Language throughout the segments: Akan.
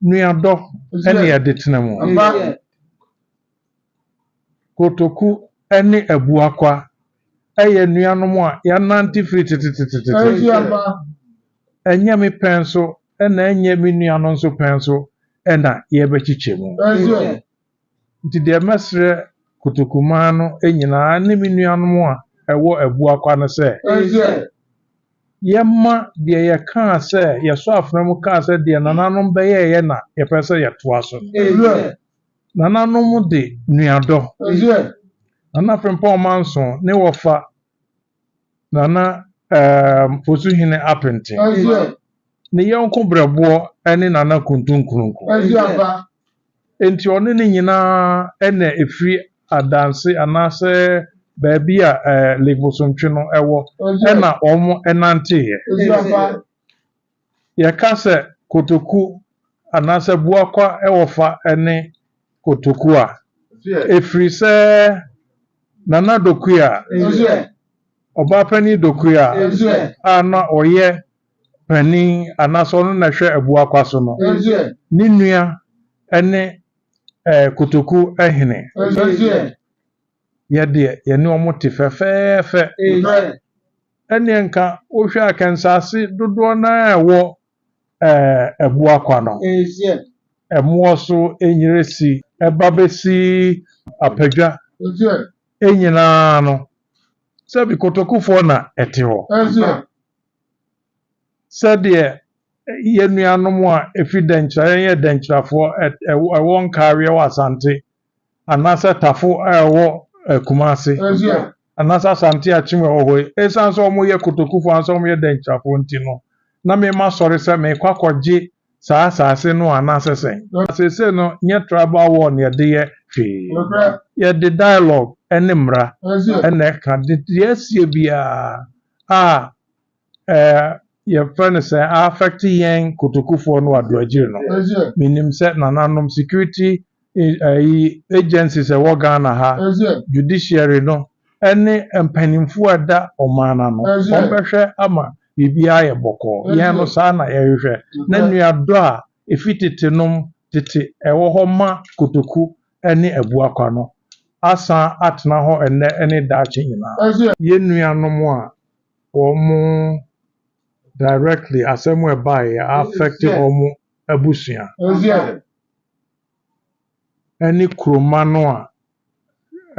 nuadɔ ne ɛde tena mu. Kotoku ne abuakwa yɛ nuanom a yɛanante firi tetetetete. Ɛnyɛ me pɛn so na ɛnyɛ me nua no nso pɛn so na yɛbɛkyekyɛ mu. Nti deɛ mɛsrɛ Kotokumaa no nyinaa ne me nuanom a ɛwɔ Abuakwa no sɛ, yɛmma deɛ yɛkaa sɛ, yɛsɔ afena mu kaa sɛ deɛ nananom bɛyɛeɛ na yɛpɛ sɛ yɛtoa so no. Nananom de nuadɔ, Nana Frimpong Manso ne wɔfa Nana um Fosuhene Apenten, ne yɔnko Berɛboɔ ne Nana Kuntu Nkrunku. Enti ɔne ne nyinaa na ɛfiri Adanse anaasɛ baabi a um Lake Bosontwe no wɔ na wɔn nanteeɛ. Yɛka sɛ kotoku anaasɛ boakwa wɔfa ne kotoku a, ɛfiri sɛ Nana Dokuya, Ɔbaapanin Dokuya a na ɔyɛ panin anaasɛ ɔno na ɛhwɛ abuakwa so no, ne nua ne kotoku hene. Yɛ deɛ, yɛne wɔn te fɛfɛɛfɛ. ɛnneɛ nka wohwɛ a kɛnsaase dodoɔ no ara ɛwɔ Abuakwa no, Ɛmoɔ so, Enyiresi, ɛba bɛsi Apadwa nyinaa no, sɛbi Kotokufoɔ na ɛte hɔ. Sɛdeɛ yɛn nuanom a ɛfiri Dɛnkyira, yɛn yɛ Dɛnkyirafoɔ, ɛwɔ Nkaaweɛ wɔ Asante anaasɛ Tafo a ɛwɔ Kumasi anaasɛ Asante Akyem a ɛwɔ hɔ yi, esiane sɛ wɔyɛ kotokufo anaasɛ wɔyɛ dɛnkyirafo nti no, na mema sɔre sɛ merekɔ akɔgye saa asase no anaasɛ sɛn? Na seesei no, nyɛ tribal war na yɛde yɛ hwee. Yɛde dialogue ne mmara na ɛka de deɛ asie biara a yɛfrɛ no sɛ a affect yɛn kotokufoɔ no adoagyiri no menim sɛ nananom security ayi agencies ɛwɔ Ghana ha judiciary no ɛne mpanimfoɔ ɛda ɔman no ano wɔn bɛhwɛ ama biribiara ayɛ bɔkɔɔ yɛn no saa na yɛhwehwɛ na nuadɔ a ɛfi tete nom tete ɛwɔ hɔ ma kotoku ɛne abuakwa no asan atena hɔ ɛnnɛ ɛne daakye nyinaa. Yɛn nuanom a wɔn directly asɛm a ɛbaeɛ yɛ affect wɔn abusua ɛne kuroma no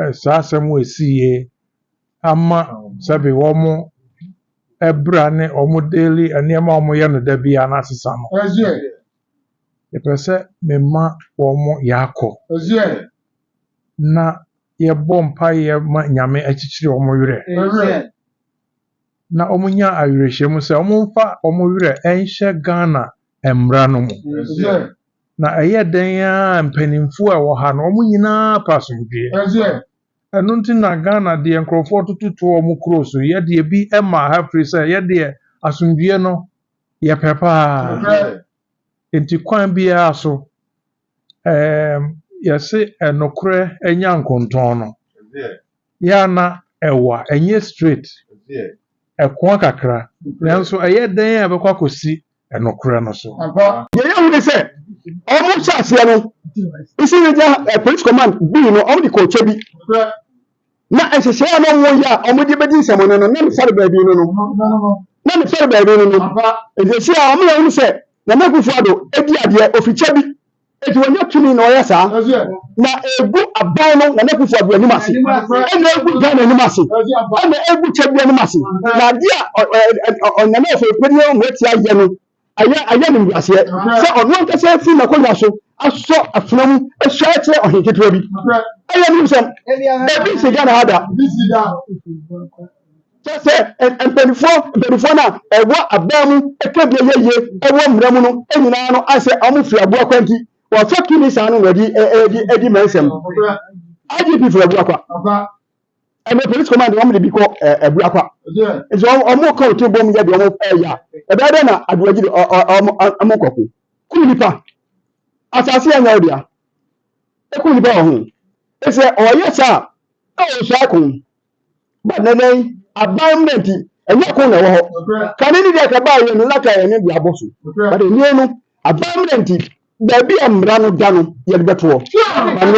a saa asɛm a ɛsiiɛ ama sɛbi wɔn ɛbra ne wɔn daily nneɛma a wɔyɛ no da biara no asesa no yɛpɛ sɛ mema wɔn yɛakɔ na yɛbɔ mpaeɛ ma Nyame akyikyiri wɔn werɛ na wɔn nya awerɛhyɛmu sɛ wɔn mfa wɔn werɛ nhyɛ Ghana mmra no mu. Na ɛyɛ dɛn ara mpaninfoɔ a ɛwɔ ha no wɔn nyinaa pɛ asomdwoeɛ. Ɛno nti na Ghana deɛ nkorɔfoɔ toto to wɔn kuro so yɛ deɛ bi ma ha firi sɛ yɛ deɛ asomdwoeɛ no yɛpɛ paa. Enti kwan biara so, ɛɛm, yɛse ɛnokorɛ anya nkontɔn no, yɛ a na ɛwa, ɛnyɛ straight, ɛkoa kakra, nanso ɛyɛ dɛn a ɛbɛkɔ akɔsi ɛnokorɛ no so? Deɛ yɛhu ne sɛ, wɔn hyɛ aseɛ no, Eastern Asia Police Command, bii no, wɔn de kɔɔ Kyebi. Na nhyehyɛe a na wɔyɛ a wɔde bedi nsɛmmɔne no, na mefɛre baabi no no. Na mefɛre baabi no no. Enti si a wɔn na wɔn sɛ Nana Akufo-Addo adi adeɛ ofikyɛ bi. Enti wɔnyɛ tumi na wɔyɛ saa. Na egu aban no Nana Akufo-Addo anim ase. Ɛna egu Ghana anim ase. Ɛna egu kyɛ bi anim ase. Na adeɛ a Nana Ofori-Peduye Omoatia yɛ no, Ɛyɛ ɛyɛ animguaseɛ sɛ ɔno ankasa afiri n'akonnwa so asɔ afena mu ahyia akyerɛ ɔhene ketewa bi. Ɛyɛ nim sɛm. Ebi nsi Ghana ha da. Kyerɛ sɛ mpanimfoɔ mpanimfoɔ no a ɛwɔ abaa mu ka deɛ ɛyɛ yie ɛwɔ mmara mu no nyinaa no asɛ wɔn firi aboa kwa nti wɔfa tumi saa no na ɛdi ɛdi ɛdi mɛnsɛm. IGP firi aboa kwa. ɛnɛ police command wɔn de bi kɔ ɛɛ abuakwa nti wɔn wɔn kɔ to bom yɛ de wɔn ɛɛ ya ɛbɛyɛ dɛ na aduagyi de ɔ ɔ wɔn wɔn nkɔko kum nipa asase yɛ nyɛw dea ekum nipa wɔ ho ɛsɛ ɔyɛ saa ɛwɔ nso ako ba nɛnɛ yi aban mu nti ɛnyɛ ko na ɛwɔ hɔ kane ne deɛ kaba yɛ no na ka yɛ ne de abɔ so ba de nie no aban mu nti baabi a mmara no da no yɛde bɛtoɔ